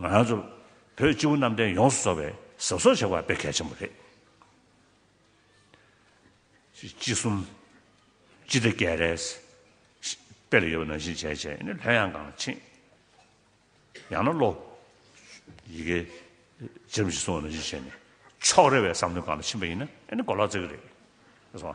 ང་ཚོ་བོད་སྤྱི་བོ་གནམ་བསྟན་ཡོངས་སུ་རྫོགས་པའི་ཟབ་གསོག་བྱ་བ་དཔེ་གལ་ཆེན་པོ་རེད། སྤྱི་གསུམ། སྤྱི་བདེ་སྐད་རེས། དཔེ་ལ་ཡོད་པ་ནང་བཞིན་བྱས་བྱས་ནས་ལྷོད་ཡངས་གངས་ཆེན། ཡང་ན་བློ། ཡི་གེ། ཇི་རིམ་བཞིན་སྲུང་བ་ནང་བཞིན་བྱས་ནས་ཕྱོགས་རེ་བའི་བསམ་འདུན་གང་ལ་ཕྱིན་པ་ཡིན་ན་ཨེ་ནི་གོ་ལག་རྩེ་གི་རེད།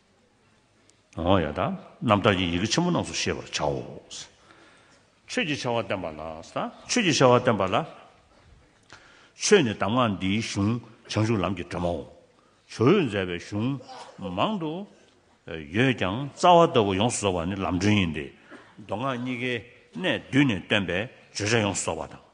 ཡང་དག་རྣམ་དག་གི་ཡི་གེ་ཆེན་པོ་རྣམས་སུ་ཤེས་པར་བྱའོ། ཆོས་ཀྱི་བྱ་བ་བསྟན་པ་ལ་སང་ཆོས་ཀྱི་བྱ་བ་བསྟན་པ་ལ། ཆོས་ནི་གདམས་ངག་འདིའི་གཞུང་བྱང་ཆུབ་ལམ་གྱི་སྒྲོན་མའོ། ཇོ་བོས་མཛད་པའི་གཞུང་མང་དུ་ཡོད་ཀྱང་རྩ་བ་ལྟ་བུ་ཡོངས་སུ་རྫོགས་པ་ནི་ལམ་སྒྲོན་ཡིན་ཏེ། མདོ་སྔགས་གཉིས་ཀའི་གནད་བསྡུས་ནས་སྟོན་པའི་བརྗོད་བྱ་ཡོངས་སུ་རྫོགས་པ་དང།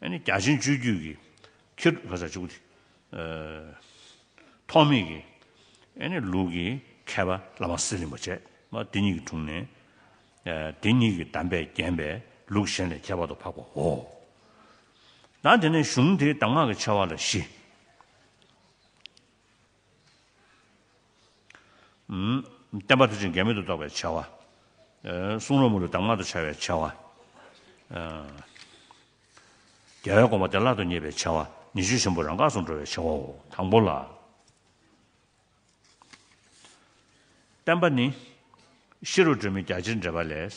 བརྒྱ་བྱིན་སྤྱོད་རྒྱུད་ཀྱི་ཁྱེར། ཐོགས་མེད་ཀྱི། ལུས་ཀྱི་མཁས་པ་བླ་མ་སེར་རིན་པོ་ཆེ། དེ་ཉིད་ཀྱི་དྲུང་ནས། དེ་ཉིད་ཀྱི་གདམས་པས་བརྒྱན་པའི་ལུགས་གཞན་ལས་ཁྱད་པར་དུ་འཕགས་པའོ། ཡང་དེ་ནས་གཞུང་དེའི་གདམས་ངག་གི་ཆེ་བ་ལ་བཞི། བརྟན་པ་དུ་ཅིང་འགལ་མེད་དུ་རྟོགས་པའི་བྱ་བ། གསུང་རོལ་མོ་ལུས་གདམས་ངག་ཏུ་འཆར་བའི་བྱ་བ། རྒྱལ་བའི་དགོངས་པ་བདེ་བླག་ཏུ་རྙེད་པའི་བྱ་བ། ཉི་ཤུ་ཆེན་པོ་རང་འགགས་སུ་འགྲོ་བའི་བྱ་བའོ། དང་པོ་ལ། བརྟན་པ་ནི། ཤེས་རབ་སྒྲོན་མེ་རྒྱ་ཆེར་འགྲེལ་པ་ལས།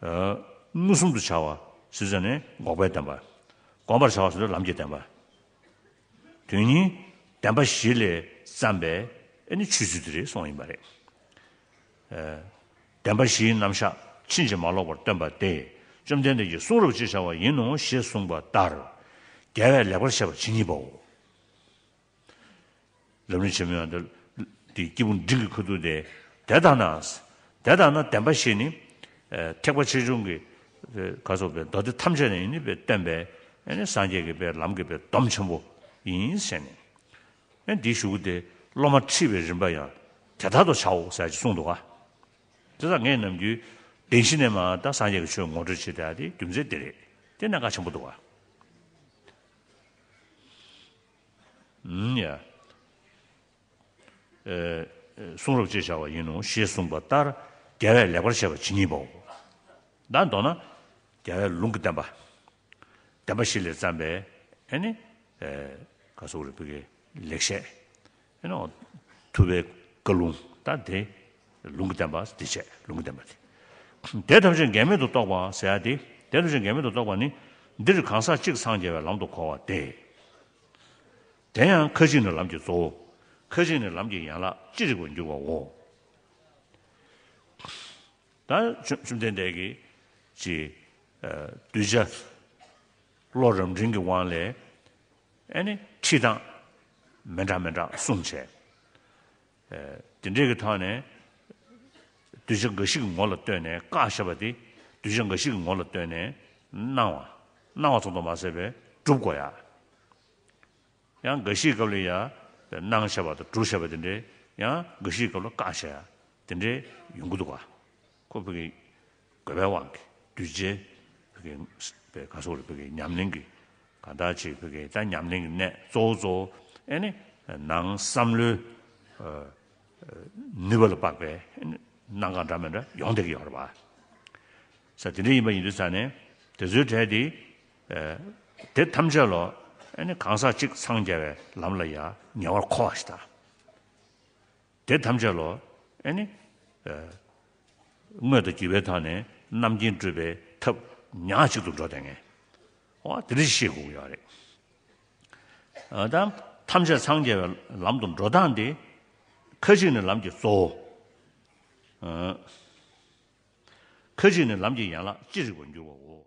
བསླུ་གསུམ་དུ་བྱ་བ་སུས་བརྩོན་ནས་འགོག་པའི་བདེན་པ། བསྒོམ་པར་བྱ་བ་སུས་ལམ་གྱི་བདེན་པ། དོན་གཉིས་བདེན་པ་བཞི་ལས་བརྩམས་པས་ཨེ་ནི་ཆོས་ཚུལ་དེ་རེ་ཟུང་ཡིན་པ་རེད། བདེན་པ་བཞིའི་རྣམ་གཞག་ཕྱིན་ཅི་མ་ལོག་པར་སྟོན་པ་སྟེ་བཅོམ་ལྡན་འདས་ཀྱི་གསུང་རབ་ཅེས་བྱ་བ་ཡིན་ནོ་ཞེས་གསུངས་པ་ལྟར་རྒྱལ་བས་ལེགས་པར་བཤད་པར་ཇི་སྙེད་པའོ། རབ་གནས་ཆེན་མོ་ཡང་འདི་འདི་སྐྱེས་བུ་འབྲིང་གི་ཁུ་ཐུག་སྟེ། དེ་ལྟ་ན། དེ་ལྟ་ན་བདེན་པ་ཞེས་ནི། ཐེག་པ་ཆེ་ཆུང་གི། ག་སོགས་པའི་མདོ་སྡེ་ཐམས་ཅད་ནས་ཡིན་ནི་པའི་སྟོན་པས། སངས་རྒྱས་ཀྱི་པའི་ལམ་གྱི་པའི་སྡོམ་ཆེན་པོ་ཡིན་ཞེས་ནི། འདིའི་གཞུག་གུ་སྟེ་སློབ་མ་ཁྲིད་པའི་རིམ་པ་ཡང་དེ་ལྟར་དུ་བྱའོ་ཟེར་གྱིས་གསུངས་འདུག་ག། དེ་ལ་ངས་ནམ་རྒྱུན། བདེན་བཞི་ནས་མ་ད་སངས་རྒྱས་ཀྱི་ཆོས་ངོ་སྤྲོད་བྱེད་བསྡད་ཨ་དེ་རྒྱུ་མཚན་འདི་རེད་དེ་གནད་འགག་ཆེན་པོ་འདུག་ག། གསུང་རབ་ཅེས་བྱ་བ་ཡིན་ནོ་ཞེས་གསུངས་པ་ལྟར་རྒྱལ་བས་ལེགས་པར་བཤད་པ་ཇི་སྙེད་པའོ། དང་མདོར་ན་རྒྱལ་བས་ལུང་གི་བསྟན་པ་བདེན་པ་བཞི་ལས་བརྩམས་པའི། ལེགས་བཤད། ཐུ་བའི་བཀའ་ལུང་དང་དེ་ལུང་གི་བསྟན་པ་དེ་བྱས་ལུང་གི་བསྟན་པ་དེ། དེ་ཐམས་ཅད་འགལ་མེད་དུ་རྟོགས་པ་ཟེར་ཡ་དེ་དེ་ཐམས་ཅད་འགལ་མེད་དུ་རྟོགས་པ་ནི་འདིར་གང་ཟག་གཅིག་སངས་རྒྱས་པའི་ལམ་དུ་གོ་བ་སྟེ། དེ་ཡང་ཁ་ཅིག་ནི་ལམ་གྱི་གཙོ་བོ་ཁ་ཅིག་ནི་ལམ་གྱི་ཡན་ལག་ཅི་རིགས་པར་འགྱུར་བའོ། ད་བཅོམ་ལྡན་འདས་ཀྱིས་ཀྱིས། གདུལ་བྱ་བློ་རབ་འབྲིང་གི་དབང་ལས། ཨེ་ནི་ཁྲིད་སྟངས་མི་འདྲ་མི་འདྲ་གསུངས། བྱས་དེ་འབྲས་ཀྱི་ཐོག་ནས། གདུལ་བྱ་འགའ་ཞིག་གི་ངོ་ལ་ལྟོས་ནས་བཀའ་ཞེས་པ་དེ་གདུལ་བྱ་འགའ་ཞིག་གི་ངོ་ལ་ལྟོས་ནས་གནང་བ། གནང་བ་ཚོགས་འདུ་མ་ཟད་པའི་སྒྲུབ་དགོས་ཡ། ཡང་འགའ་ཞིག་གི་སྐབས་ལ་ཡ། གནང་ཞེས་པ་དང་སྒྲུབ་ཞེས་པ་དེ་འདྲས་ཡང་འགའ་ཞིག་གི་སྐབས་ལ་བཀའ་ཞེས་ཡ་དེ་འདྲས་ཡོང་གི་འདུག་ག། ཁོ་བོ་ཀྱིས་དགོས་པའི་དབང་གིས་གདུལ་བྱའི་བུ་གའི་བུ་ག་སོགས་ལ་བུ་གའི་ཉམས་ལེན་གྱི་ག་ལྟར་བྱེད་བུ་གའི་ལྟར་ཉམས་ལེན་གྱི་གནད་གཙོ་བོ་གཙོ་བོ་ནི་ནང་བསམ་བློའི་ནུས་པ་ལ་དཔག་པའི་སྣང་གང་འདྲ་མི་འདྲ་ཡོང་སྡེ་གི་ཡོང་རེ་བ་ས་དེ་འདྲ་ཡིན་པ་ཡིན་དུས་ས་ནས་དེ་ཚོའི་གྲས་དེ་དེ་ཐམས་ཅད་ལོ་གང་ཟག་གཅིག་འཚང་རྒྱ་བའི་ལམ་ལ་ཡང་ཉེ་བར་མཁོ་བ་ཞིག་དང། དེ་ཐམས་ཅད་ལོ། ཨེ་ནི། དངོས་དང་བགྱི་བའི་དང་ནི་རྣམ་མཁྱེན་སྤྲུལ་པའི་ཐབས། ཉག་གཅིག་ཏུ་འགྲོ་དེ་ངེས། ཨོ་དེ་རེ་ཤེས་དགོས་ཀྱི་རེད། དང། ཐམས་ཅད་འཚང་རྒྱ་བའི་ལམ་དུ་འགྲོ་སྟངས་དེ། ཁ་ཅིག་ནི་ལམ་གྱི་གཙོ་བོ། ཁ་ཅིག་ནི་ལམ་གྱི་ཡན་ལག་ཅི་རིགས་པར་འགྱུར་བའོ།